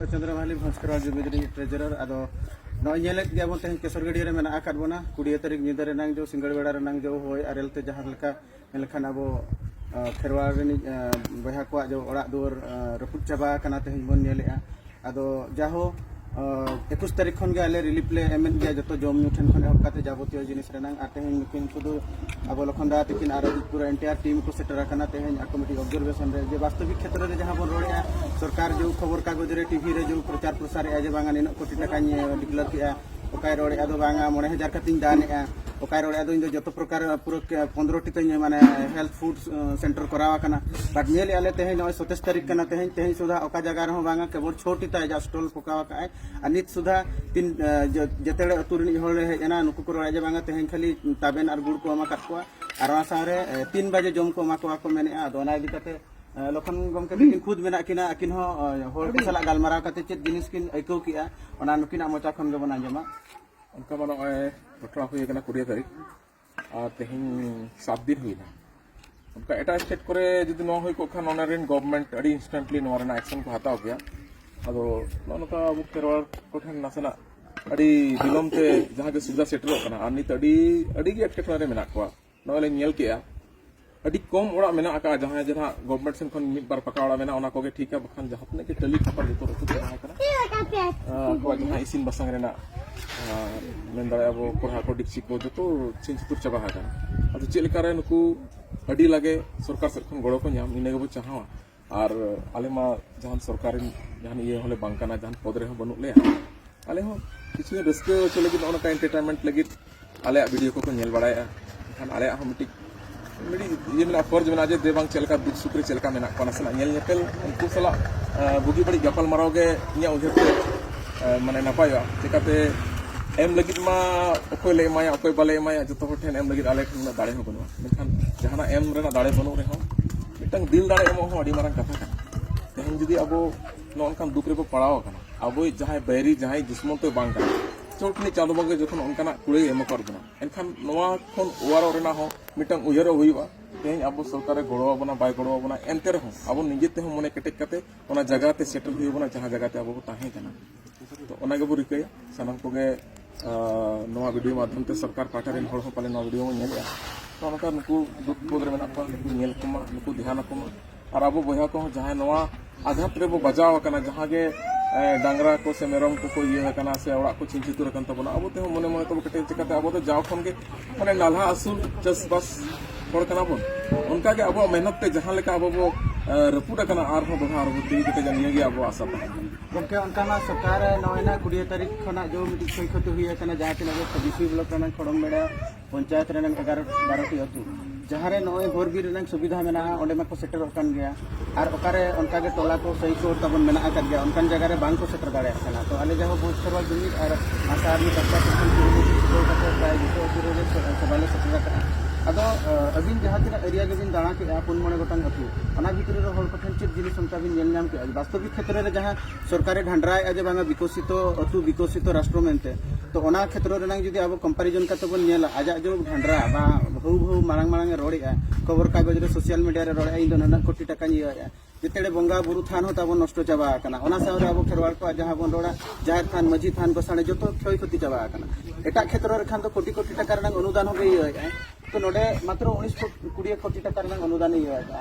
ᱪᱚᱱᱫᱨᱚᱢᱟᱞᱤ ᱵᱷᱚᱸᱥᱠᱚᱨᱟ ᱡᱩᱵᱤᱫᱨᱤ ᱴᱨᱮᱡᱚᱨᱟᱨ ᱟᱫᱚ ᱱᱚᱜᱼᱚᱭ ᱧᱮᱞᱮᱫ ᱜᱮᱭᱟ ᱵᱚᱱ ᱛᱮᱦᱮᱧ ᱠᱮᱥᱚᱨ ᱜᱟᱹᱰᱭᱟᱹ ᱨᱮ ᱢᱮᱱᱟᱜ ᱟᱠᱟᱫ ᱵᱚᱱᱟ ᱠᱩᱲᱤᱭᱟᱹ ᱛᱟᱹᱨᱤᱠᱷ ᱧᱤᱫᱟᱹ ᱨᱮᱱᱟᱝ ᱡᱚ ᱥᱤᱸᱜᱟᱹᱲ ᱵᱮᱲᱟ ᱨᱮᱱᱟᱝ ᱡᱚ ᱦᱚᱭ ᱟᱨᱮᱞ ᱛᱮ ᱡᱟᱦᱟᱸ ᱞᱮᱠᱟ ᱢᱮᱱᱠᱷᱟᱱ ᱟᱵᱚ ᱠᱷᱮᱨᱣᱟᱲ ᱨᱤᱱᱤᱡ ᱵᱚᱭᱦᱟ ᱠᱚᱣᱟᱜ ᱡᱚ ᱚᱲᱟᱜ ᱫᱩᱣᱟᱹᱨ ᱨᱟᱹᱯᱩᱫ ᱪᱟᱵᱟ ᱟᱠᱟᱱᱟ ᱛᱮᱦᱮᱧ ᱵᱚᱱ ᱧᱮᱞᱮᱜᱼᱟ ᱟᱫᱚ ᱡᱟᱦᱳ ᱮᱠᱩᱥ ᱛᱟᱹᱨᱤᱠᱷ ᱠᱷᱚᱱ ᱜᱮ ᱟᱞᱮ ᱨᱤᱞᱤᱯᱷ ᱞᱮ ᱮᱢᱮᱫ ᱜᱮᱭᱟ ᱡᱚᱛᱚ ᱡᱚᱢ ᱧᱩ ᱴᱷᱮᱱ ᱠᱷᱚᱱ ᱮᱦᱚᱵ ᱠᱟᱛᱮ ᱡᱟᱵᱚᱛᱤᱭᱚ ᱡᱤᱱᱤᱥ ᱨᱮᱱᱟᱝ ᱟᱨ ᱛᱮᱦᱮᱧ ᱱᱩᱠᱤᱱ ᱠᱚᱫᱚ ᱟᱵᱚ ᱞᱚᱠᱷᱚᱱ ᱫᱟ ᱛᱤᱠᱤᱱ ᱟᱨ ᱯᱩᱨᱟᱹ ᱮᱱᱴᱤᱭᱟᱨ ᱴᱤᱢ ᱠᱚ ᱥᱮᱴᱮᱨ ᱟᱠᱟᱱᱟ ᱛᱮᱦᱮᱧ ᱟᱠᱚ ᱢᱤᱫᱴᱤᱡ ᱚᱵᱡᱟᱨᱵᱷᱮᱥᱚᱱ ᱨᱮ ᱡᱮ ᱵᱟᱥᱛᱚᱵᱤᱠ ᱠᱷᱮᱛᱨᱮ ᱨᱮ ᱡᱟᱦᱟᱸ ᱵᱚᱱ ᱨᱚᱲᱮᱜᱼᱟ ᱥᱚᱨᱠᱟᱨ ᱡᱮ ᱠᱷᱚᱵᱚᱨ ᱠᱟᱜᱚᱡᱽ ᱨᱮ ᱴᱤᱵᱷᱤ ᱨᱮ ᱡᱮ ᱯᱨᱚᱪᱟᱨ ᱯᱨᱚᱥᱟᱨᱮᱜᱼᱟ ᱡᱮ ᱵᱟᱝᱟ ᱱᱤᱱᱟᱹᱜ ᱠᱳᱴᱤ ᱴᱟᱠᱟᱧ ᱰᱤᱠᱞᱟᱨ ᱠᱮᱜᱼᱟ ᱚᱠᱟᱭ ᱨᱚᱲᱮᱜᱼᱟ ᱫᱚ ᱵᱟᱝᱟ ᱢᱚᱬᱮ ᱦᱟᱡᱟᱨ ᱠᱟᱛᱮᱧ ᱫᱟᱱᱮᱜᱼᱟ ᱚᱠᱟᱭ ᱨᱚᱲᱮᱜᱼᱟ ᱫᱚ ᱤᱧ ᱫᱚ ᱡᱚᱛᱚ ᱯᱨᱚᱠᱟᱨ ᱯᱩᱨᱟᱹ ᱯᱚᱱᱫᱨᱚᱴᱤ ᱛᱤᱧ ᱢᱟᱱᱮ ᱦᱮᱞᱛᱷ ᱯᱷᱩᱰ ᱥᱮᱱᱴᱟᱨ ᱠᱚᱨᱟᱣ ᱟᱠᱟᱱᱟ ᱵᱟᱴ ᱧᱮᱞᱮᱜᱼᱟ ᱞᱮ ᱛᱮᱦᱮᱧ ᱱᱚᱜᱼᱚᱭ ᱥᱚᱛᱮᱥ ᱛᱟᱹᱨᱤᱠᱷ ᱠᱟᱱᱟ ᱛᱮᱦᱮᱧ ᱛᱮᱦᱮᱧ ᱥᱩᱫᱷᱟ ᱚᱠᱟ ᱡᱟᱭᱜᱟ ᱨᱮᱦᱚᱸ ᱵᱟᱝᱟ ᱠᱮᱵᱚᱞ ᱪᱷᱚᱴᱤ ᱛᱟᱭ ᱡᱟ ᱥᱴᱚᱞ ᱯᱚᱠᱟᱣ ᱟᱠᱟᱜᱼᱟᱭ ᱟᱨ ᱱᱤᱛ ᱥᱩᱫᱷᱟ ᱛᱤᱱ ᱡᱮᱛᱮ ᱦᱚᱲ ᱟᱹᱛᱩ ᱨᱤᱱᱤᱡ ᱦᱚᱲ ᱦᱮᱡ ᱮᱱᱟ ᱱᱩᱠᱩ ᱠᱚ ᱨᱚᱲᱟ ᱡᱮ ᱵᱟᱝᱟ ᱛᱮᱦᱮᱧ ᱠᱷᱟᱹᱞᱤ ᱛᱟᱵᱮᱱ ᱟᱨ ᱜᱩᱲ ᱠᱚ ᱮᱢᱟ ᱠᱟᱫ ᱠᱚᱣᱟ ᱟᱨ ᱚᱱᱟ ᱥᱟᱶᱨᱮ ᱛᱤᱱ ᱵᱟᱡᱮ ᱡᱚᱢ ᱠᱚ ᱮᱢᱟ ᱠᱚᱣᱟ ᱠᱚ ᱢᱮᱱᱮᱜᱼᱟ ᱟᱫᱚ ᱚᱱᱟ ᱤᱫᱤ ᱠᱟᱛᱮ ᱞᱚᱠᱷᱚᱱ ᱜᱚᱢᱠᱮ ᱛᱤᱠᱤᱱ ᱠᱷᱩᱫ ᱢᱮᱱᱟᱜ ᱠᱤᱱᱟ ᱟᱹᱠᱤᱱ ᱦᱚᱸ ᱦᱚᱲ ᱠᱚ ᱥᱟᱞᱟᱜ ᱜᱟᱞᱢᱟᱨᱟᱣ ᱠᱟᱛᱮ ᱪᱮᱫ ᱡᱤᱱᱤᱥ ᱠᱤᱱ ᱟᱹᱭᱠᱟᱹᱣ ᱠᱮᱜᱼᱟ ᱚᱱᱟ ᱱᱩᱠᱤᱱᱟᱜ ᱢᱚᱪᱟ ᱠᱷᱚᱱ ᱜᱮᱵᱚᱱ ᱟᱸᱡᱚᱢᱟ ᱚᱱᱠᱟ ᱢᱟ ᱱᱚᱜᱼᱚᱭ ᱜᱷᱚᱴᱚᱱᱟ ᱦᱩᱭ ᱟᱠᱟᱱᱟ ᱠᱩᱲᱤᱭᱟᱹ ᱛᱟᱹᱨᱤᱠᱷ ᱟᱨ ᱛᱮᱦᱮᱧ ᱥᱟᱛ ᱫᱤᱱ ᱦᱩᱭᱱᱟ ᱚᱱᱠᱟ ᱮᱴᱟᱜ ᱥᱴᱮᱴ ᱠᱚᱨᱮ ᱡᱩᱫᱤ ᱱᱚᱣᱟ ᱦᱩᱭ ᱠᱚᱜ ᱠᱷᱟᱱ ᱚᱱᱟ ᱨᱮᱱ ᱜᱚᱵᱷᱚᱨᱱᱢᱮᱱᱴ ᱟᱹᱰᱤ ᱤᱱᱥᱴᱮᱱᱴᱞᱤ ᱱᱚᱣᱟ ᱨᱮᱱᱟᱜ ᱮᱠᱥᱚᱱ ᱠᱚ ᱦᱟᱛᱟᱣ ᱠᱮᱭᱟ ᱟᱫᱚ ᱱᱚᱜᱼᱚ ᱱᱚᱝᱠᱟ ᱟᱵᱚ ᱠᱷᱮᱨᱣᱟᱲ ᱠᱚᱴᱷᱮᱱ ᱱᱟᱥᱮᱱᱟᱜ ᱟᱹᱰᱤ ᱵᱤᱞᱚᱢ ᱛᱮ ᱡᱟᱦᱟᱸ ᱜᱮ ᱥᱩᱵᱤᱫᱷᱟ ᱥᱮᱴᱮᱨᱚᱜ ᱠᱟᱱᱟ ᱟᱨ ᱱᱤᱛ ᱟᱹᱰᱤ ᱟᱹᱰᱤ ᱜᱮ ᱮᱴᱠᱮᱴᱚᱬᱮ ᱨᱮ ᱢᱮᱱᱟᱜ ᱠᱚᱣᱟ ᱱᱚᱜᱼᱚᱭ ᱞᱤᱧ ᱧᱮᱞ ᱠᱮᱜᱼᱟ ᱟᱹᱰᱤ ᱠᱚᱢ ᱚᱲᱟᱜ ᱢᱮᱱᱟᱜ ᱟᱠᱟᱫᱼᱟ ᱡᱟᱦᱟᱸᱭ ᱡᱮ ᱱᱟᱦᱟᱜ ᱜᱚᱵᱷᱚᱨᱱᱢᱮᱱᱴ ᱥᱮᱱ ᱠᱷᱚᱱ ᱢᱤᱫ ᱵᱟᱨ ᱯᱟᱠᱟ ᱚᱲᱟᱜ ᱢᱮᱱᱟᱜᱼᱟ ᱚᱱᱟ ᱠᱚᱜᱮ ᱴᱷᱤᱠᱟ ᱵᱟᱠᱷᱟᱱ ᱡᱟᱦᱟᱸ ᱛᱤᱱᱟᱹᱜ ᱜᱮ ᱴᱟᱹᱞᱤ ᱠᱷᱟᱯᱟᱨ ᱡᱚᱛᱚ ᱨᱟᱹᱯᱩᱫ ᱪᱟᱵᱟ ᱟᱠᱟᱱᱟ ᱟᱠᱚᱣᱟᱜ ᱡᱟᱦᱟᱸ ᱤᱥᱤᱱ ᱵᱟᱥᱟᱝ ᱨᱮᱱᱟᱜ ᱢᱮᱱ ᱫᱟᱲᱮᱭᱟᱜᱼᱟ ᱟᱵᱚ ᱠᱚᱲᱦᱟ ᱠᱚ ᱰᱤᱯᱥᱤ ᱠᱚ ᱡᱚᱛᱚ ᱪᱷᱤᱱ ᱪᱷᱩᱛᱩᱨ ᱪᱟᱵᱟ ᱟᱠᱟᱱᱟ ᱟᱫᱚ ᱪᱮᱫ ᱞᱮᱠᱟᱨᱮ ᱱᱩᱠᱩ ᱟᱹᱰᱤ ᱞᱟᱜᱮ ᱥᱚᱨᱠᱟᱨ ᱥᱮᱫ ᱠᱷᱚᱱ ᱜᱚᱲᱚ ᱠᱚ ᱧᱟᱢ ᱤᱱᱟᱹ ᱜᱮᱵᱚ ᱪᱟᱦᱟᱣᱟ ᱟᱨ ᱟᱞᱮ ᱢᱟ ᱡᱟᱦᱟᱱ ᱥᱚᱨᱠᱟᱨᱤ ᱡᱟᱦᱟᱱ ᱤᱭᱟᱹ ᱦᱚᱸᱞᱮ ᱵᱟᱝ ᱠᱟᱱᱟ ᱡᱟᱦᱟᱱ ᱯᱚᱫᱽ ᱨᱮᱦᱚᱸ ᱵᱟᱹᱱᱩᱜ ᱞᱮᱭᱟ ᱟᱞᱮ ᱦᱚᱸ ᱠᱤᱪᱷᱩ ᱨᱟᱹᱥᱠᱟᱹ ᱦᱚᱪᱚ ᱞᱟᱹᱜᱤᱫ ᱱᱚᱜᱼᱚ ᱱᱚᱝᱠᱟ ᱮᱱᱴᱟᱨᱴᱮᱱᱢᱮᱱᱴ ᱞᱟᱹᱜᱤᱫ ᱟᱞᱮᱭᱟᱜ ᱵᱷᱤᱰᱤᱭᱳ ᱠᱚᱠᱚ ᱧᱮᱞ ᱵᱟᱲᱟᱭᱮᱫᱼᱟ ᱮᱱᱠᱷᱟᱱ ᱟᱞᱮᱭᱟᱜ ᱦᱚᱸ ᱢᱤᱫᱴᱤᱡ ᱢᱤᱫᱴᱤᱡ ᱤᱭᱟᱹ ᱢᱮᱱᱟᱜᱼᱟ ᱯᱷᱚᱨᱡᱽ ᱢᱮᱱᱟᱜᱼᱟ ᱡᱮ ᱫᱮ ᱵᱟᱝ ᱪᱮᱫ ᱞᱮᱠᱟ ᱫᱩᱠ ᱥᱩᱠ ᱨᱮ ᱪᱮᱫ ᱞᱮᱠᱟ ᱢᱮᱱᱟᱜ ᱠᱚᱣᱟ ᱱᱟᱥᱮᱱᱟᱜ ᱧᱮᱞ ᱧᱮᱯᱮᱞ ᱩᱱᱠᱩ ᱥᱟᱞᱟᱜ ᱵᱩᱜᱤ ᱵᱟᱹᱲᱤᱡ ᱜᱟᱯᱟᱞ ᱢᱟᱨᱟᱣ ᱜᱮ ᱤᱧᱟᱹᱜ ᱩᱭᱦᱟᱹᱨ ᱛᱮ ᱢᱟᱱᱮ ᱱᱟᱯᱟᱭᱚᱜᱼᱟ ᱪᱤᱠᱟᱛᱮ ᱮᱢ ᱞᱟᱹᱜᱤᱫ ᱢᱟ ᱚᱠᱚᱭ ᱞᱮ ᱮᱢᱟᱭᱟ ᱚᱠᱚᱭ ᱵᱟᱞᱮ ᱮᱢᱟᱭᱟ ᱡᱚᱛᱚ ᱦᱚᱲ ᱴᱷᱮᱱ ᱮᱢ ᱞᱟᱹᱜᱤᱫ ᱟᱞᱮ ᱴᱷᱮᱱ ᱩᱱᱟᱹᱜ ᱫᱟᱲᱮ ᱦᱚᱸ ᱵᱟᱹᱱᱩᱜᱼᱟ ᱢᱮᱱᱠᱷᱟᱱ ᱡᱟᱦᱟᱱᱟᱜ ᱮᱢ ᱨᱮᱱᱟᱜ ᱫᱟᱲᱮ ᱵᱟᱹᱱᱩᱜ ᱨᱮᱦᱚᱸ ᱢᱤᱫᱴᱟᱝ ᱫᱤᱞ ᱫᱟᱲᱮ ᱮᱢᱚᱜ ᱦᱚᱸ ᱟᱹᱰᱤ ᱢᱟᱨᱟᱝ ᱠᱟᱛᱷᱟ ᱠᱟᱱᱟ ᱛᱮᱦᱮᱧ ᱡᱩᱫᱤ ᱟᱵᱚ ᱱᱚᱝᱠᱟᱱ ᱫᱩᱠ ᱨᱮᱵᱚ ᱯᱟᱲᱟᱣ ᱟᱠᱟᱱᱟ ᱟᱵᱚᱭᱤᱡ ᱡᱟᱦᱟᱸᱭ ᱵᱟᱭᱨᱤ ᱡᱟᱦᱟᱸᱭ ᱫᱩᱥᱢᱚᱱ ᱛᱮ ᱵᱟᱝ ᱠᱟᱱᱟ ᱪᱚᱴ ᱱᱤᱡ ᱪᱟᱸᱫᱚ ᱵᱚᱸᱜᱟ ᱡᱚᱠᱷᱚᱱ ᱚᱱᱠᱟᱱᱟᱜ ᱠᱩᱲᱟᱹᱭ ᱮᱢ ᱟᱠᱟᱫ ᱵᱚᱱᱟ ᱮᱱᱠᱷᱟᱱ ᱱᱚᱣᱟ ᱠᱷᱚᱱ ᱚᱣᱟᱨᱚᱜ ᱨᱮᱱᱟᱜ ᱦᱚᱸ ᱢᱤᱫᱴᱟᱝ ᱩᱭᱦᱟᱹᱨᱚᱜ ᱦᱩᱭᱩᱜᱼᱟ ᱛᱮᱦᱮᱧ ᱟᱵᱚ ᱥᱚᱨᱠᱟᱨᱮ ᱜᱚᱲᱚ ᱟᱵᱚᱱᱟ ᱵᱟᱭ ᱜᱚᱲᱚ ᱟᱵᱚᱱᱟ ᱮᱱᱛᱮ ᱨᱮᱦᱚᱸ ᱟᱵᱚ ᱱᱤᱡᱮ ᱛᱮᱦᱚᱸ ᱢᱚᱱᱮ ᱠᱮᱴᱮᱡ ᱠᱟᱛᱮ ᱚᱱᱟ ᱡᱟᱭᱜᱟ ᱛᱮ ᱥᱮᱴᱮᱨ ᱦᱩᱭ ᱟᱵᱚᱱᱟ ᱡᱟᱦᱟᱸ ᱡᱟᱭᱜᱟ ᱛᱮ ᱟᱵᱚ ᱵᱚ ᱛᱟᱦᱮᱸ ᱠᱟᱱᱟ ᱛᱚ ᱚᱱᱟ ᱜᱮᱵᱚ ᱨᱤᱠᱟᱹᱭᱟ ᱥᱟᱱᱟᱢ ᱠᱚᱜᱮ ᱱᱚᱣᱟ ᱵᱷᱤᱰᱤᱭᱳ ᱢᱟᱫᱽᱫᱷᱚᱢ ᱛᱮ ᱥᱚᱨᱠᱟᱨ ᱯᱟᱦᱴᱟ ᱨᱮᱱ ᱦᱚᱲ ᱦᱚᱸ ᱯᱟᱞᱮ ᱱᱚᱣᱟ ᱵᱷᱤᱰᱤᱭᱳ ᱵᱚᱱ ᱧᱮᱞᱮᱜᱼᱟ ᱛᱚ ᱚᱱᱠᱟ ᱱᱩᱠᱩ ᱫᱩᱠ ᱵᱤᱯᱚᱫ ᱨᱮ ᱢᱮᱱᱟᱜ ᱠᱚᱣᱟ ᱱᱩᱠᱩ ᱧᱮᱞ ᱠᱚᱢᱟ ᱱᱩᱠᱩ ᱫᱷᱮᱭᱟᱱ ᱟᱠᱚ ᱢᱟ ᱟᱨ ᱟᱵᱚ ᱵᱚᱭᱦᱟ ᱠᱚᱦᱚᱸ ᱡᱟᱦᱟᱸᱭ ᱱᱚᱣᱟ ᱟᱜᱷᱟᱛ ᱨᱮᱵᱚ ᱵᱟᱡᱟᱣ ᱟᱠᱟᱱᱟ ᱡᱟᱦᱟᱸ ᱜᱮ ᱰᱟᱝᱨᱟ ᱠᱚ ᱥᱮ ᱢᱮᱨᱚᱢ ᱠᱚᱠᱚ ᱤᱭᱟᱹ ᱟᱠᱟᱱᱟ ᱥᱮ ᱚᱲᱟᱜ ᱠᱚ ᱪᱷᱤᱧ ᱪᱷᱤᱛᱩᱨ ᱟᱠᱟᱱ ᱛᱟᱵᱚᱱᱟ ᱟᱵᱚ ᱛᱮᱦᱚᱸ ᱢᱚᱱᱮ ᱢᱚᱱᱮ ᱛᱮᱵᱚ ᱠᱮᱴᱮᱡ ᱪᱤᱠᱟᱹᱛᱮ ᱟᱵᱚ ᱫᱚ ᱡᱟᱣ ᱠᱷᱚᱱ ᱜᱮ ᱢᱟᱱᱮ ᱱᱟᱞᱦᱟ ᱟᱹᱥᱩᱞ ᱪᱟᱥᱵᱟᱥ ᱦᱚᱲ ᱠᱟᱱᱟ ᱵᱚᱱ ᱚᱱᱠᱟ ᱜᱮ ᱟᱵᱚᱣᱟᱜ ᱢᱮᱦᱱᱚᱛ ᱛᱮ ᱡᱟᱦᱟᱸ ᱞᱮᱠᱟ ᱟᱵᱚ ᱵᱚ ᱨᱟᱹᱯᱩᱫ ᱟᱠᱟᱱᱟ ᱟᱨᱦᱚᱸ ᱫᱚᱲᱦᱟ ᱟᱨᱦᱚᱸ ᱛᱤ ᱠᱮᱴᱮᱡᱟ ᱱᱤᱭᱟᱹ ᱜᱮ ᱟᱵᱚᱣᱟᱜ ᱟᱥᱟ ᱛᱟᱦᱮᱸ ᱠᱟᱱᱟ ᱜᱚᱢᱠᱮ ᱚᱱᱠᱟᱱᱟᱜ ᱥᱚᱨᱠᱟᱨ ᱱᱚᱜᱼᱚᱭᱱᱟ ᱠᱩᱲᱤᱭᱟᱹ ᱛᱟᱹᱨᱤᱠᱷ ᱠᱷᱚᱱᱟᱜ ᱡᱮ ᱢᱤᱫᱴᱤᱡ ᱠᱷᱚᱭ ᱠᱷᱚᱛᱤ ᱦᱩᱭ ᱟᱠᱟᱱᱟ ᱡᱟᱦᱟᱸ ᱛᱤᱱᱟᱹᱜ ᱜᱮ ᱵᱤᱯᱤ ᱵᱞᱚᱠ ᱨᱮᱱᱟᱜ ᱠᱷᱚᱲᱚᱢ ᱵᱮᱲᱟ ᱯᱚᱧᱪᱟᱭᱮᱛ ᱨᱮᱱᱟᱜ ᱮᱜᱟᱨᱚ ᱵᱟᱨᱚᱴᱤ ᱟᱹᱛᱩ ᱡᱟᱦᱟᱸᱨᱮ ᱱᱚᱜᱼᱚᱭ ᱦᱚᱨ ᱵᱤᱨ ᱨᱮᱱᱟᱜ ᱥᱩᱵᱤᱫᱷᱟ ᱢᱮᱱᱟᱜᱼᱟ ᱚᱸᱰᱮ ᱢᱟᱠᱚ ᱥᱮᱴᱮᱨᱚᱜ ᱠᱟᱱ ᱜᱮᱭᱟ ᱟᱨ ᱚᱠᱟᱨᱮ ᱚᱱᱠᱟᱜᱮ ᱴᱚᱞᱟ ᱠᱚ ᱥᱟᱹᱭ ᱠᱚ ᱛᱟᱵᱚᱱ ᱢᱮᱱᱟᱜ ᱟᱠᱟᱫ ᱜᱮᱭᱟ ᱚᱱᱠᱟᱱ ᱡᱟᱭᱜᱟ ᱨᱮ ᱵᱟᱝ ᱠᱚ ᱥᱮᱴᱮᱨ ᱫᱟᱲᱮᱭᱟᱜ ᱠᱟᱱᱟ ᱛᱚ ᱟᱞᱮ ᱡᱟᱦᱟᱸ ᱵᱩᱡᱽ ᱥᱮᱵᱟ ᱡᱩᱢᱤᱫ ᱟᱨ ᱟᱥᱟ ᱟᱨᱢᱤ ᱯᱟᱥᱴᱟ ᱥᱮᱠᱥᱚᱱ ᱠᱩᱨᱩᱢᱩᱴᱩ ᱪᱷᱩᱴᱟᱹᱣ ᱠᱟᱛᱮ ᱯᱨᱟᱭ ᱡᱚᱛᱚ ᱟᱹᱛᱩ ᱨᱮᱜᱮ ᱥᱮᱵᱟᱞᱮ ᱥᱮᱴᱮᱨ ᱟᱠᱟᱫᱼᱟ ᱟᱫᱚ ᱟᱹᱵᱤᱱ ᱡᱟᱦᱟᱸ ᱛᱤᱱᱟᱹᱜ ᱮᱨᱤᱭᱟ ᱜᱮᱵᱤᱱ ᱫᱟᱬᱟ ᱠᱮᱫᱼᱟ ᱯᱩᱱ ᱢᱚᱬᱮ ᱜᱚᱴᱟᱝ ᱟᱹᱛᱩ ᱚᱱᱟ ᱵᱷᱤᱛᱨᱤ ᱨᱮ ᱦᱚᱲ ᱠᱚᱴᱷᱮᱱ ᱪᱮᱫ ᱡᱤᱱᱤᱥ ᱚᱱᱠᱟ ᱵᱤᱱ ᱧᱮᱞ ᱧᱟᱢ ᱠᱮᱫᱼᱟ ᱵᱟᱥᱛᱚᱵᱤᱠ ᱠᱷᱮᱛᱨᱮ ᱨᱮ ᱡᱟᱦᱟᱸ ᱥᱚᱨᱠᱟᱨᱮ ᱰᱷᱟᱱᱰᱨᱟᱭᱮᱫᱼᱟ ᱡᱮ ᱵᱟᱝᱟ ᱵᱤᱠᱚᱥᱤᱛᱚ ᱟᱹᱛᱩ ᱵᱤᱠᱚᱥᱤᱛᱚ ᱨᱟᱥᱴᱨᱚ ᱢᱮᱱᱛᱮ ᱛᱚ ᱚᱱᱟ ᱠᱷᱮᱛᱨᱚ ᱨᱮᱱᱟᱝ ᱡᱩᱫᱤ ᱟᱵᱚ ᱠᱚᱢᱯᱟᱨᱤᱡᱚᱱ ᱠᱟᱛᱮ ᱵᱚᱱ ᱧᱮᱞᱟ ᱟᱡᱟᱜ ᱡᱮ ᱰᱷᱟᱱᱰᱨᱟ ᱵᱟ ᱵᱷᱟᱹᱣ ᱵᱷᱟᱹᱣ ᱢᱟᱲᱟᱝ ᱢᱟᱲᱟᱝ ᱮ ᱨᱚᱲᱮᱫᱼᱟ ᱠᱷᱚᱵᱚᱨ ᱠᱟᱜᱚᱡᱽ ᱨᱮ ᱥᱳᱥᱤᱭᱟᱞ ᱢᱤᱰᱤᱭᱟ ᱨᱮ ᱨᱚᱲᱮᱫᱼᱟ ᱤᱧ ᱫᱚ ᱱᱩᱱᱟᱹᱜ ᱠᱳᱴᱤ ᱴᱟᱠᱟᱧ ᱤᱭᱟᱹᱭᱮᱫᱼᱟ ᱡᱮᱛᱮᱲᱮ ᱵᱚᱸᱜᱟ ᱵᱩᱨᱩ ᱛᱷᱟᱱ ᱦᱚᱸ ᱛᱟᱵᱚᱱ ᱱᱚᱥᱴᱚ ᱪᱟᱵᱟ ᱟᱠᱟᱱᱟ ᱚᱱᱟ ᱥᱟᱶᱨᱮ ᱟᱵᱚ ᱠᱷᱮᱨᱣᱟᱲ ᱠᱚᱣᱟᱜ ᱡᱟᱦᱟᱸ ᱵᱚᱱ ᱨᱚᱲᱟ ᱡᱟᱦᱮᱨ ᱛᱷᱟᱱ ᱢᱟᱹᱡᱷᱤ ᱛᱷᱟᱱ ᱜᱚᱥᱟᱬᱮ ᱡᱚᱛᱚ ᱠᱷᱚᱭ ᱠᱷᱚᱛᱤ ᱪᱟᱵᱟ ᱟᱠᱟᱱᱟ ᱮᱴᱟᱜ ᱠᱷᱮᱛᱨᱚ ᱨᱮ ᱠᱷᱟᱱ ᱫᱚ ᱠᱳᱴᱤ ᱠᱳᱴᱤ ᱴᱟᱠᱟ ᱨᱮᱱᱟᱝ ᱚᱱᱩᱫᱟᱱ ᱦᱚᱸ ᱤᱭᱟᱹᱭᱮᱫᱼᱟ ᱛᱚ ᱱᱚᱰᱮ ᱢᱟᱛᱨᱚ ᱩᱱᱤᱥ ᱠᱩᱲᱤ ᱠᱳᱴᱤ ᱴᱟᱠᱟ ᱨᱮᱱᱟᱝ ᱚᱱᱩᱫᱟᱱ ᱤᱭᱟᱹᱭᱮᱫᱼᱟ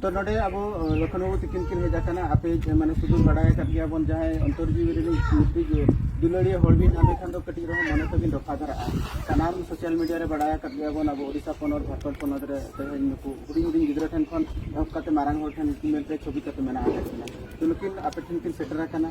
ᱛᱚ ᱱᱚᱰᱮ ᱟᱵᱚ ᱞᱚᱠᱷᱚᱱ ᱵᱟᱹᱵᱩ ᱛᱤᱠᱤᱱ ᱠᱤᱱ ᱦᱮᱡ ᱟᱠᱟᱱᱟ ᱟᱯᱮ ᱢᱟᱱᱮ ᱥᱩᱫᱩ ᱵᱟᱰᱟᱭ ᱟᱠᱟᱫ ᱜᱮᱭᱟ ᱵᱚᱱ ᱡᱟᱦᱟᱸᱭ ᱚᱱᱛᱚᱨ ᱡᱤᱣᱤ ᱨᱮᱱᱤᱡ ᱢᱤᱫᱴᱤᱡ ᱫᱩᱞᱟᱹᱲᱤᱭᱟᱹ ᱦᱚᱲ ᱵᱤᱱ ᱧᱟᱢᱮ ᱠᱷᱟᱱ ᱫᱚ ᱠᱟᱹᱴᱤᱡ ᱨᱮᱦᱚᱸ ᱢᱚᱱᱮ ᱛᱟᱹᱵᱤᱱ ᱨᱚᱯᱷᱟ ᱫᱷᱟᱨᱟᱜᱼᱟ ᱥᱟᱱᱟᱢ ᱥᱳᱥᱟᱞ ᱢᱤᱰᱤᱭᱟ ᱨᱮ ᱵᱟᱰᱟᱭ ᱟᱠᱟᱫ ᱜᱮᱭᱟ ᱵᱚᱱ ᱟᱵᱚ ᱳᱰᱤᱥᱟ ᱯᱚᱱᱚᱛ ᱡᱷᱟᱲᱠᱷᱚᱸᱰ ᱯᱚᱱᱚᱛ ᱨᱮ ᱛᱮᱦᱮᱧ ᱱᱩᱠᱩ ᱦᱩᱰᱤᱧ ᱦᱩᱰᱤᱧ ᱜᱤᱫᱽᱨᱟᱹ ᱴᱷᱮᱱ ᱠᱷᱚᱱ ᱮᱦᱚᱵ ᱠᱟᱛᱮ ᱢᱟᱨᱟᱝ ᱦᱚᱲ ᱴᱷᱮᱱ ᱢᱮᱱᱛᱮ ᱪᱷᱚᱵᱤ ᱠᱟᱛᱮ ᱢᱮᱱᱟᱜ ᱟᱠᱟᱫ ᱠᱤᱱᱟ ᱛᱚ ᱱᱩᱠᱤᱱ ᱟᱯᱮ ᱴᱷᱮᱱ ᱠᱤᱱ ᱥᱮᱴᱮᱨ ᱟᱠᱟᱱᱟ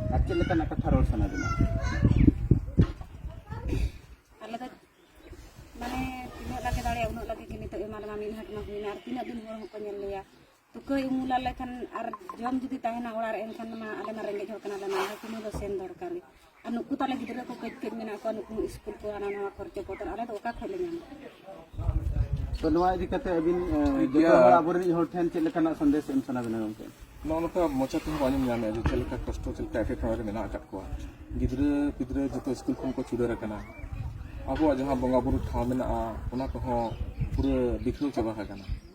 ᱟᱨ ᱪᱮᱫ ᱞᱮᱠᱟᱱᱟᱜ ᱠᱟᱛᱷᱟ ᱨᱚᱲ ᱥᱟᱱᱟ ᱵᱤᱱᱟ ᱟᱞᱮ ᱫᱚ ᱢᱟᱱᱮ ᱛᱤᱱᱟᱹᱜ ᱞᱟᱜᱮ ᱫᱟᱲᱮᱭᱟᱜ ᱩᱱᱟᱹᱜ ᱞᱟᱜᱮ ᱜᱮ ᱱᱤᱛᱚᱜ ᱮᱢᱟ ᱞᱮᱢᱟ ᱢᱤᱫ ᱦᱟᱴ ᱢᱟ ᱦᱩᱭᱱᱟ ᱟᱨ ᱛᱤᱱᱟᱹᱜ ᱫᱤᱱ ᱦᱚᱲ ᱦᱚᱸᱠᱚ ᱧᱮᱞ ᱞᱮᱭᱟ ᱛᱩᱠᱟᱹᱭ ᱩᱢᱩᱞ ᱟᱞᱮ ᱠᱷᱟᱱ ᱟᱨ ᱡᱚᱢ ᱡᱩᱫᱤ ᱛᱟᱦᱮᱱᱟ ᱚᱲᱟᱜ ᱨᱮ ᱮᱱᱠᱷᱟᱱ ᱢᱟ ᱟᱞᱮ ᱢᱟ ᱨᱮᱸᱜᱮᱡ ᱦᱚᱲ ᱠᱟᱱᱟᱞᱮ ᱢᱟ ᱟᱞᱮ ᱛᱤᱱᱟᱹᱜ ᱫᱚ ᱥᱮᱱ ᱫᱚᱨᱠᱟᱨ ᱜᱮ ᱟᱨ ᱱᱩᱠᱩ ᱛᱟᱞᱮ ᱜᱤᱫᱽᱨᱟᱹ ᱠᱚ ᱠᱟᱹᱡ ᱠᱟᱹᱡ ᱢᱮᱱᱟᱜ ᱠᱚᱣᱟ ᱱᱩᱠᱩ ᱥᱠᱩᱞ ᱠᱚ ᱦᱟᱱᱟ ᱱᱟᱣᱟ ᱠᱷᱚᱨᱪᱚ ᱠᱚ ᱟᱞᱮ ᱫᱚ ᱚᱠᱟ ᱠᱷᱚᱱ ᱞᱮ ᱧᱟᱢᱟ ᱛᱚ ᱱᱚᱣᱟ ᱤᱫᱤ ᱠᱟᱛᱮ ᱟᱹᱵᱤᱱ ᱡᱚᱛᱚ ᱦᱚᱲ ᱟᱵᱚᱨᱮᱱ ᱦᱚᱲ ᱴᱷᱮᱱ ᱪᱮᱫ ᱞᱮᱠᱟᱱᱟᱜ ᱥᱟᱸᱫᱮᱥ ᱮᱢ ᱥᱟᱱᱟ ᱵᱮᱱᱟ ᱜᱚᱢᱠᱮ ᱱᱚᱜᱼᱚ ᱱᱚᱝᱠᱟ ᱢᱚᱪᱟ ᱛᱮᱦᱚᱸ ᱵᱟᱝ ᱟᱸᱡᱚᱢ ᱧᱟᱢᱮᱫᱼᱟ ᱡᱮ ᱪᱮᱫ ᱞᱮᱠᱟ ᱠᱚᱥᱴᱚ ᱪᱮᱫ ᱞᱮᱠᱟ ᱮᱴᱠᱮᱴᱚᱬᱮ ᱨᱮ ᱢᱮᱱᱟᱜ ᱟᱠᱟᱫ ᱠᱚᱣᱟ ᱜᱤᱫᱽᱨᱟᱹ ᱯᱤᱫᱽᱨᱟᱹ ᱡᱚᱛᱚ ᱥᱠᱩᱞ ᱠᱷᱚᱱ ᱠᱚ ᱪᱷᱩᱰᱟᱹᱨ ᱟᱠᱟᱱᱟ ᱟᱵᱚᱣᱟᱜ ᱡᱟᱦᱟᱸ ᱵᱚᱸᱜᱟ ᱵᱩᱨᱩ ᱴᱷᱟᱶ ᱢᱮᱱᱟᱜᱼᱟ ᱚᱱᱟ ᱠᱚᱦᱚᱸ ᱯᱩᱨᱟᱹ ᱵᱤᱠᱷᱟᱹᱣ ᱪᱟᱵᱟ ᱟᱠᱟᱱᱟ